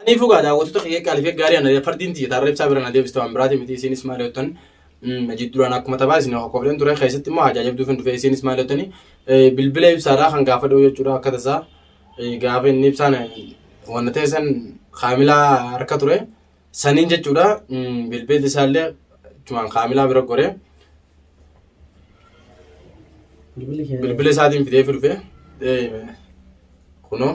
Ani fugaa daawwattoota kiyya qaaliif gaarii ana fardiin tiyya taarra ibsaa bira na deebiste waan biraati miti isiinis maal yootan najid duraan akkuma taphaa isin hokofleen ture keessatti immoo hajaa jabduu kan dhufe isiinis maal yootani bilbila ibsaadhaa kan gaafa dhuu jechuudha akka tasaa gaafa inni ibsaan wanna ta'e san kaamilaa harka ture saniin jechuudha bilbilli isaallee tumaan kaamilaa bira goree bilbila isaatiin fidee dhufe kunoo.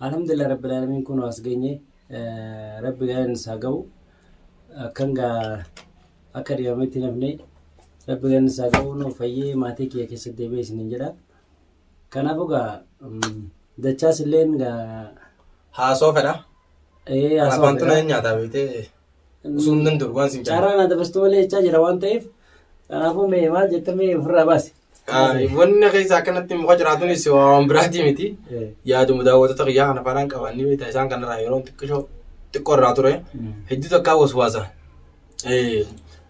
Alhamdulillah Rabbil Alamin kun as geenye Rabbi galan isaa ga'u akkan gaa akka dhiyametti nafne Rabbi galan isaa ga'u nu fayyee maatii kiyya keessatti deebi'ee isiniin jedha. Kanaafuu gaa dachaas illeen gaa Haasoo fedha. ee Kanaaf haasawaa wanti fedha. na nyaataa beektee osoo hin danda'u waan sin carraa. Carraa na dabarsitu malee jechaa jira waan ta'eef kanaafuu mee maal jetta mee ofirraa baasi. Wanna keessa akkanatti muka jiraatunis waan biraatii miti. Yaaduma daawwattoota kiyyaa kana faanaan qaban ni beekta isaan kanarraa yeroo xiqqishoo xiqqoo irraa ture. Hedduu takkaa waswaasa.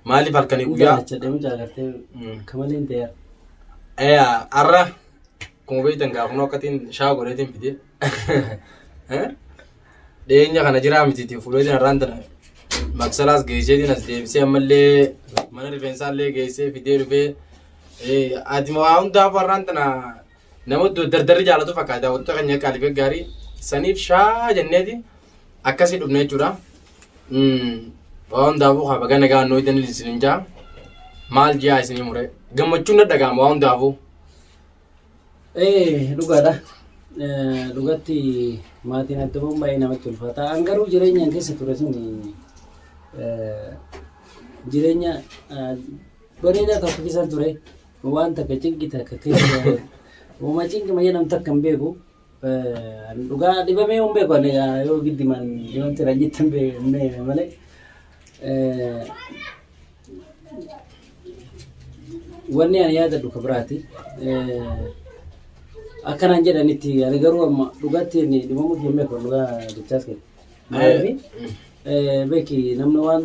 Maaliif halkanii guyyaa? Kamaleen ta'eera. Eyaa har'a akkuma beektan gaafunoo akkatiin shaa godheetiin fide. dhiyeenya kana jiraa mitiiti fuuleetiin har'aan tana maksalaas geesseetiin as deebisee ammallee mana rifeensaallee geessee fidee dhufee ati waa hundaaf har'aan tana nama dardarri jaalatu fakkaata daawwattoota keenya qaaliif gaarii saniif shaa jenneeti akkasii dhufne jechuudha. Waa hundaafuu haa baga nagaa annoo idan isin jaa maal jiyaa isin mure gammachuun na dhaga'ama waa hundaafuu. Ee dhugaadha. Eh, Dhugatti maatiin adda bahuun baay'ee namatti ulfaata. An garuu jireenyaan keessa ture sun eh, jireenya eh, bareedaa tokko keessa ture. Waan takka cinqi takka keessa. Uuma cinqi mayyee nam takka hin beeku. Dhugaa dhibamee hin beeku ani egaa yoo giddiman dhibamte kan jettan beekne malee. Wanni ani yaadadhu ka biraati. Akkanaan jedhanitti ani garuu amma dhugaatti inni dhibamuu hin beeku dhugaa jechaas kee. Maaliif beeki namni waan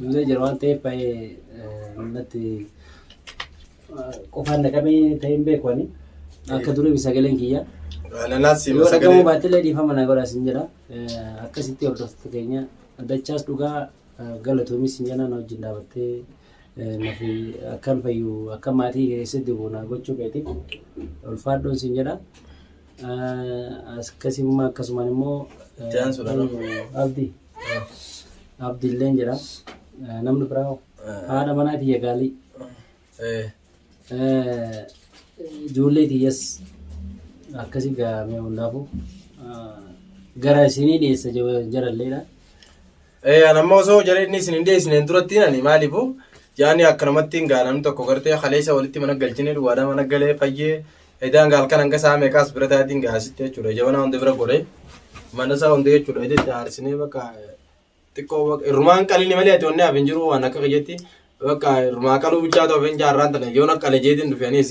Duulee jira waan ta'eef baay'ee natti qofaan na qabee ta'ee hin beeku ani. Akka durii sagaleen kiyya. Ananaas siima Yoo dhagahu sagalee. baatellee dhiifama na godhaa sin jedha. Eh, Akkasitti hordoftoota keenya dachaas dhugaa eh, galatoomis sin jedha na wajjin dhaabattee eh, nafi akkan fayyu akka maatii keessatti bu'u na gochuu keetiif ulfaadhoon sin jedha. Akkasii immoo akkasumaan immoo abdi abdi illee jira namni biraa hoo? haadha manaa tiyya gaalii ijoollee tiyyas akkasii gaamee hundaafuu gara isinii dhiyeessa jaralleedha. Eh, an amma osoo jara inni isin hin dhiyeessineen duratti ani maaliifu yaani akka namatti hin gaa namni tokko gartee kaleessa walitti mana galchine duwwaadha mana galee fayyee edaan gaal kan hanga saa meeqaas bira taatiin gaa asitti jechuudha jabana hunda bira gore mana isaa hunda jechuudha itti haarsinee bakka xiqqoo bakka irrumaan qalini malee ati onnee hafin jiru waan akka kiyyetti bakka irrumaa qaluu bichaa ta'u hafin jaarraan tana yoon akka lejeetiin dhufeenis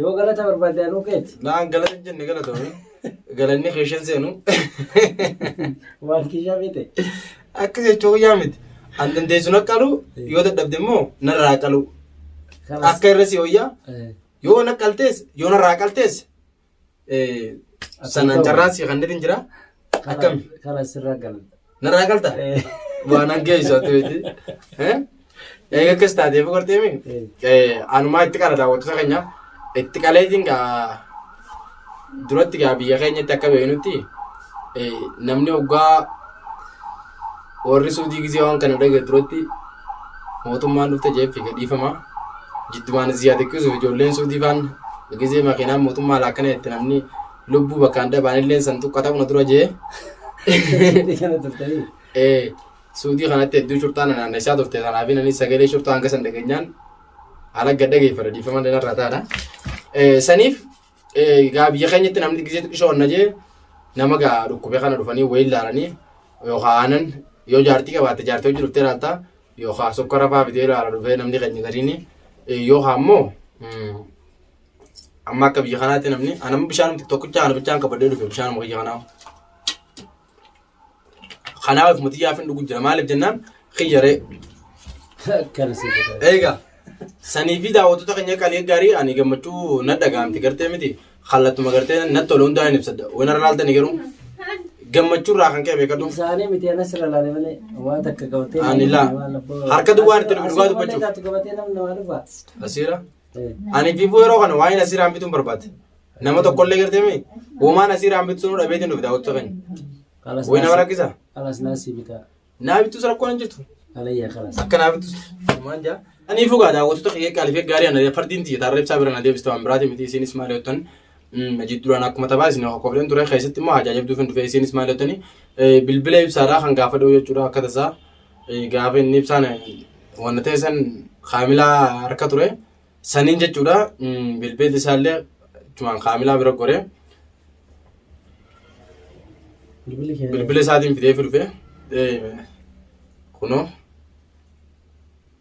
Yoo galata barbaadde anuu keeti. Naan galata hin jenne galatoomi. Galanni keeshan seenu. Waan kiishaa beekte. Akka jechuu guyyaa miti. An dandeessuun akka qalu yoo dadhabde immoo narraa qalu. Akka irra si hoyyaa yoo na qaltees yoo narraa qaltees Sanaan carraa si kan dhirin jira. Akkami? Karaa sirraa galan. Narraa galta? Waan hangeessu ati miti. Eega akkas taatee boqortee mi? Anumaa itti qala daawwattoota keenya. Itti qaleetiin gaa duratti gaa biyya keenyatti akka beeknutti namni oggaa Warri suudii gizee waan kana dhagee duratti mootummaan dhufte jeeffi gadhiifama. Jiddumaan ziyaa xiqqisuuf ijoolleen suudii faan gizee makiinaan mootummaa laakkana itti namni lubbuu bakkaan dhabaan illee san tuqqa ta'u na dura jee. Ee suudii kanatti hedduu shurxaan na naannessaa turte kanaaf inni sagalee shurxaa hanga san dhageenyaan haala gadda geeffadha dhiifama danarraa taadha. Saniif Eh, Gaa biyya keenyatti namni gisee xiqqisho wanna jee nama gaa dhukkube kana dhufanii wayii ilaalanii yookaan aanan yoo jaartii qabaatte jaartii hojii dhuftee ilaalta yookaan sukkara fa'aa bitee ilaala dhufee namni keenya gariini Eh, yookaan ammoo mm, amma akka biyya kanaatti namni anamma bishaan tokkicha ana bichaan qabadhee dhufe bishaan biyya kanaa Kanaaf ofuma xiyyaafin dhugu jira maaliif jennaan kiyyaree. Akkana si godha. Eegaa sanii fi daawwattoota keenya qalii gaarii ani gammachuu na dhagaamti gartee miti kallattuma gartee na tole hundaa hin ibsadha waan irra laaltani garuu gammachuu irraa kan ka'e beekadhu Isaanii miti ana sirra laale malee waan takka gabatee. Ani laa. Harka duwwaan itti dhugaa dubbachuuf. Gabatee namni namaa dhufa. asiira Ani fiifuu yeroo kana waa'een asii raambituun barbaade. Nama tokkollee gartee mee uumaan asii raambitu sunuu dhabeetiin dhufe daawwattu keenya. Kalas Wayii nama rakkisa. Kalas naasii bitaa. Naa bittus rakkoon hin jirtu. Alayya kalas. Akka naa bittus. Uumaan jaa. Ani fugaa daawwattoota kiyya qaalifee gaarii ana fardiin tiyya taarra ibsaa bira na deebiste waan biraati miti isiinis maal yottan majid duraan akkuma taphaa isin hokofleen ture keessatti immoo ajaajabduuf hin dhufe isiinis maal yottani bilbila ibsaadhaa kan gaafa dhoo jechuudha akka tasaa gaafa inni ibsaan wanna ta'e san kaamilaa harka ture saniin jechuudha bilbeelli isaallee tumaan kaamilaa bira gore bilbila isaatiin fidee dhufe kunoo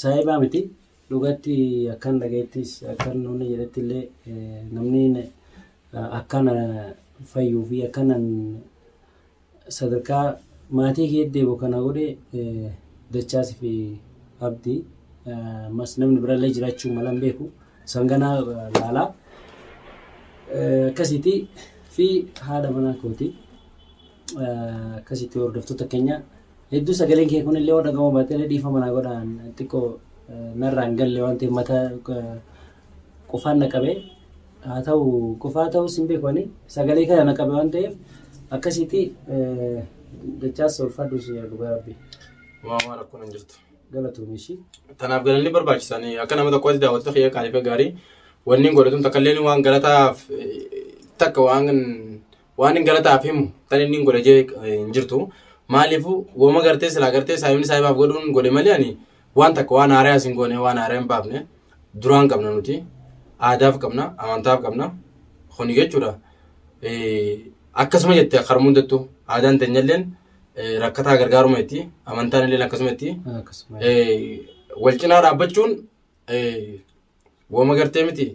Saayibaa miti dhugatti akkan dhagaittis akkan namni jedhetti illee namni akkana fayyuu fi akkanan sadarkaa maatii kee deebi'u kana godhe dachaas fi abdi mas namni birallee jiraachuu malan beeku sanganaa laalaa akkasiiti fi haadha manaa kooti. akkasitti hordoftoota keenya hedduu sagaleen kee kunillee yoo dhagahamu baatee dhiifama naa godhaan xiqqoo narraan galle waan ta'eef mata qufaan na qabe haa ta'u qufaa ta'us hin beeku ani sagalee kana na qabe waan ta'eef akkasitti dachaas ulfaadhu si dhugaa rabbi Waamaa rakkoon hin jirtu. galatuun ishii. Tanaaf galanni barbaachisan akka nama tokkotti daawwattoota kiyya qaalifa gaarii wanni godhatuun takka illee waan galataaf eh, takka waan waan hin galataaf himu tan inni hin godhe jee hin jirtu maaliifu woma gartee silaa gartee saayimni saayibaaf godhuun godhe malee ani waan takka waan haaraas hin goone waan haaraa hin baafne duraan qabna nuti aadaaf qabna amantaaf qabna kuni jechuudha akkasuma jette karma hundattu aadaan teenyalleen rakkataa gargaaruma itti amantaan illeen akkasuma itti wal cinaa dhaabbachuun Wooma gartee miti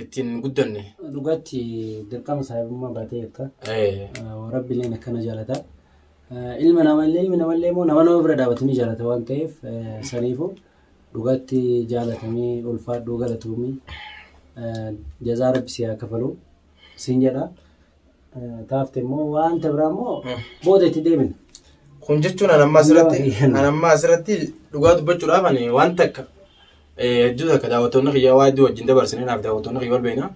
ittiin guddanne. Dhugaatti dirqama saahibummaa baatee jirta. Eh, Rabbileen akkana jaalata. Eh, Ilma namallee ilmi namallee immoo nama nama bira dhaabatu ni jaalata waan ta'eef eh, saniifuu dhugaatti jaalatamee ulfaadhuu galatoomii eh, jazaa rabbi si haa kafalu siin jedha. eh, taafte immoo wanta biraa immoo Mm. booda itti deebina. Kun jechuun an ammaa asirratti Yoo- an ammaa asirratti dhugaa dubbachuudhaaf ani waan takka eh, hedduu takka daawwattoonni kiyyaa waa hedduu wajjin dabarsine naaf daawwattoonni kiyya wal beekna.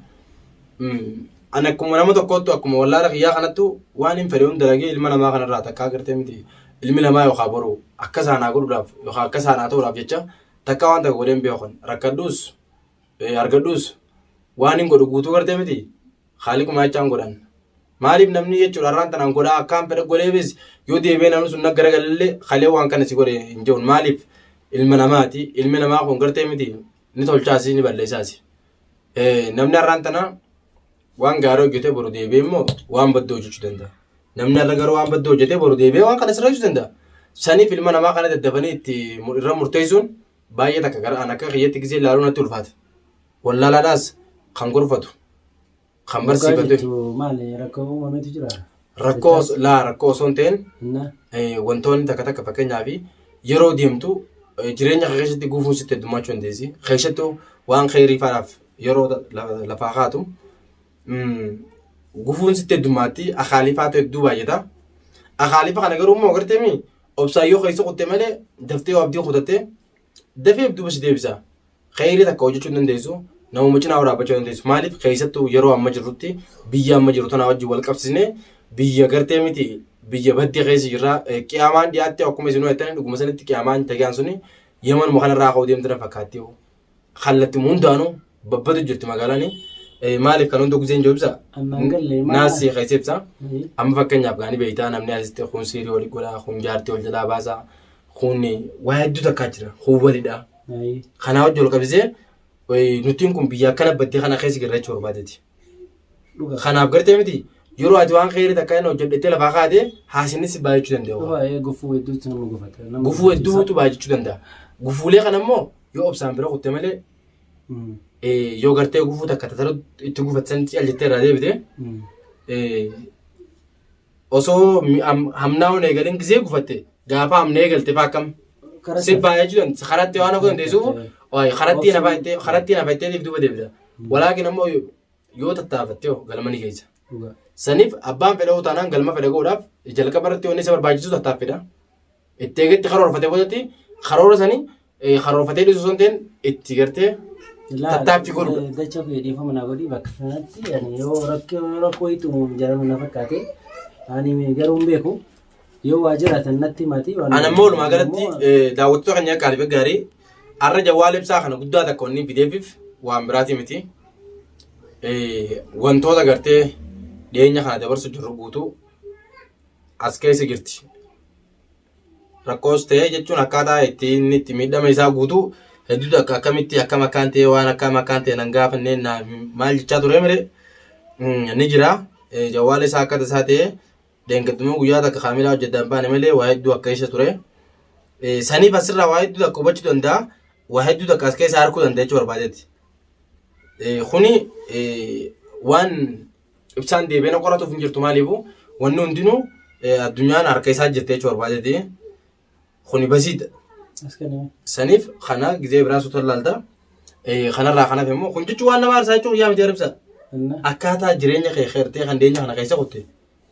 Mm, An akkuma nama tokkoottu akkuma wallaala kiyyaa kanattu waan hin fedhe hunda dalagee ilma namaa kanarraa takkaa gartee miti ilmi namaa yookaan boru akka isaan haa godhuudhaaf yookaan akka isaan haa ta'uudhaaf jecha takka waan takka godheen beekan rakkadhuus eh, argadhuus waan hin godhu guutuu gartee miti Khaaliquma jechaan godhan. Maaliif namni jechuudha har'aan tanaan godhaa akkaan fedha godheefis yoo deebi'ee namni sun naggara galallee kalee waan kana si godhe hin jiru. Maaliif ilma namaati ilmi namaa kun gartee miti ni tolchaasi ni balleessaasi. Namni har'aan tanaa waan gaarii hojjetee boru deebi'ee immoo waan badduu hojjechuu danda'a. Namni har'a garuu waan badduu hojjetee boru deebi'ee waan kana sirreessuu danda'a. Saniif ilma namaa kana daddafanii itti irra murteessuun baay'ee takka gara an akka kiyyatti gisee ilaaluu natti ulfaata. Wallaalaadhaas kan gorfatu, kan Dhugaa barsiifatu. jettu maali rakkoo uumametu jira? Rakkoo os- laa rakkoo osoo hin ta'in Innaa eh, wantoonni takka takka fakkeenyaaf yeroo deemtu eh, jireenya kee keessatti gufuun sitti heddummachuu dandeessi. Keessattuu waan kheyrii faadhaaf yeroo ta- la- lafaa kaatu mm, gufuun sitti heddummaatti akaalifaatu hedduu baay'ata. Akaalifa kana garuu immoo agarteemi obsaan yoo keessa kutte malee daftee yoo abdii kutatte dafee duuba si deebisa. Kheyrii takka hojjechuu hin dandeessu, namuma cinaa waraabbachuu hin dandeessu. Maaliif keessattuu yeroo amma jirrutti biyya amma jiru tanaa wajjin wal qabsiisnee biyya gartee miti biyya baddee keessa jirra. Eh, Qiyaamaan dhiyaatte akkuma isin hojjetan dhuguma sanitti qiyaamaan tagaan suni yamanuma kanarraa ka'uu deemtu na fakkaatti. Kallattiin hundaanuu babbadu jirti magaalaan. Eh, Maaliif kan hunda guzeen joobisa? Amma hin galle, maal- Naasii keessa ibsa. Amma fakkeenyaaf gaanii beektaa namni asitti kun siirii wal godhaa, kun jaartii wal jalaa baasaa, Kun waa hedduu takkaa jira. Kun walidha. Ayi. Kanaa wajjin wal qabisee eh, nutiin kun biyya akkana baddee kana keessa jirra jechuu barbaadeeti. Dhuga. Kanaaf gartee miti yeroo ati waan keerii takka inni hojjedhettee lafaa kaate haasinnis baay'achuu danda'u. Dhuga ee gufuu hedduutu nama gufata. Nama Gufuu gufata. hedduutu baay'achuu danda'a. Gufuulee kana immoo yoo obsaan bira kutte malee Mm. eh, yoo gartee gufuu takka tataruu itti gufatsan callittee irraa deebite Mm. eh, osoo mi- am- hamnaa'uun eegalin gisee gufatte gaafa hamna eegalte faa akkam Karaa si baay'ee jiran karatti waan akka dandeessuuf waa'ee karatti nafa itti karatti nafa itti deebiif duuba deebita walaakin ammoo yoo- yoo tattaafatte yoo galma ni geessa dhugaa. saniif abbaan fedha yoo taanaan galma fedha godhaaf jalqaba irratti wanni isa barbaachisu tattaaffiidha Itti eegetti karoorfatee boodatti karoora sanii eh, karoorfatee dhiisuu osoo hin ta'in itti gartee tattaaffii godhu. Dacha ofii dhiifama naa godhi bakka kanatti ani yoo rakkoo rakkoo itti uumamu jedhamu na fakkaate ani garuu hin beeku yoo waa jiraatan natti maatii waan Ana immoo walumaa galatti eh, daawwattoota keenya akka ariifa gaarii har'a jawwaala ibsaa kana guddaa takka wanni fideefiif waan biraatii miti. Eh, Wantoota gartee dhiyeenya kana dabarsu jirru guutuu as keessa jirti. Rakkoos ta'ee jechuun akkaataa itti inni itti miidhama isaa guutuu hedduutu akka akkamitti akkam akkaan ta'ee waan akkam akkaan ta'e nan gaafannee naa maal jechaa turee mire ni jira. Jawwaala isaa akkata isaa ta'ee deengaddumoo guyyaa takka kaamilaa hojjetaan baane malee waa hedduu akka keessa ture. Saniif asirraa waa hedduu takka hubachuu danda'a. Waa hedduu takka as keessa harkuu danda'a jechuu barbaadeeti. Kuni waan ibsaan deebi'ee na qoratuuf hin jirtu maaliifu wanni hundinuu eh, addunyaan harka isaa jirti jechuu barbaadeeti kuni basiidha As kenname. saniif kana gizee biraa suuta laalta Eh, kanarraa kanaaf immoo kun jechuun waan nama aarsaa jechuun guyyaa miti aribsa Inna. akkaataa jireenya kee keertee kan deenya kana keessa kutte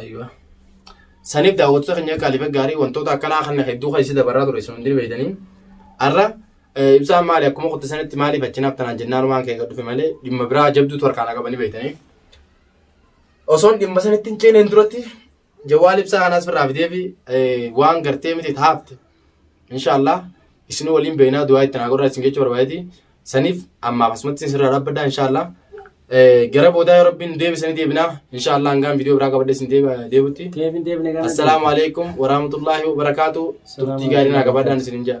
Aywa. Saniif daawwattoota keenya qaaliif gaarii wantoota akkanaa kana hedduu kan isin dabarraa ture isin hundi beektanii. Har'a eh, ibsaan maali akkuma qotte sanitti maaliif achinaaf tanaan jennaan waan kee dhufe malee dhimma biraa jabduutu harkaan qabanii beektanii. Osoon dhimma sanitti hin ceeneen duratti Jawaal ibsaa kanas firraa fideefi waan gartee miti itti haafte. Inshaallah isin waliin beeknaa du'aa itti naa godhaa isin jechuu barbaadeeti. Saniif ammaaf asumatti isin irraa dhaabbadha inshaallah. Gara boodaa yoo rabbiin deebisanii deebinaa inshaallah hangaan viidiyoo biraa qabadhe isin deebutti. Deebin deebine gana. Assalaamu alaikum warahmatullaahi wabarakaatu. Turtii gaarii naa gabaadhaan isin hin jaa.